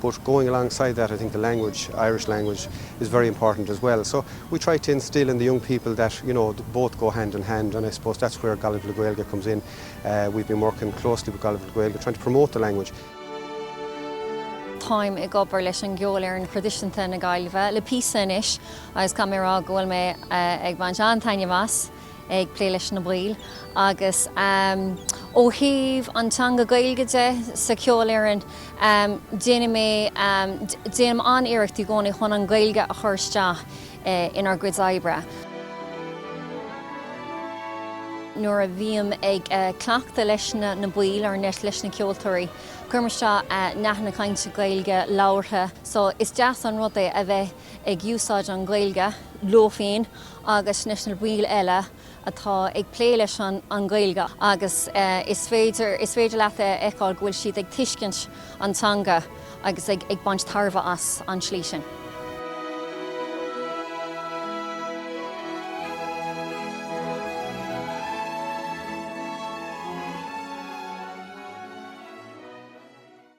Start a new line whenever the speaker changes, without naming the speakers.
but going alongside that I think the language, Irish language, is very important as well. So we try to instil in the young people that you know both go hand in hand and I suppose that's where Gaillimh le Gaeilge comes in. Uh, we've been working closely with Gaillimh le Gaeilge trying to promote the language.
táim ag obair leis an gceolfhoireann thraidisiúnta na Gaillimhe le píosa anois agus caithfidh mé a rá go bhfuil mé eh, ag baint an-taitneamh as. ag plé leis na baill agus ó thaobh an teanga Gaeilge de sa cheolfhoireann déanfaidh mé, déanaim an-iarracht i gcónaí chun an Ghaeilge a chur isteach inár gcuid oibre. nuair a bhím ag cleachtadh leis na baill ar ndóigh leis na ceoltóirí cuirim isteach nathanna cainte Gaeilge labhartha so is deas an rud é a bheith ag úsáid an Gaeilge leo féin agus leis na baill eile atá ag plé leis an Gaeilge agus is féidir leat a fheiceáil go bhfuil siad ag tuiscint an teanga agus ag baint tairbhe as an tslí sin.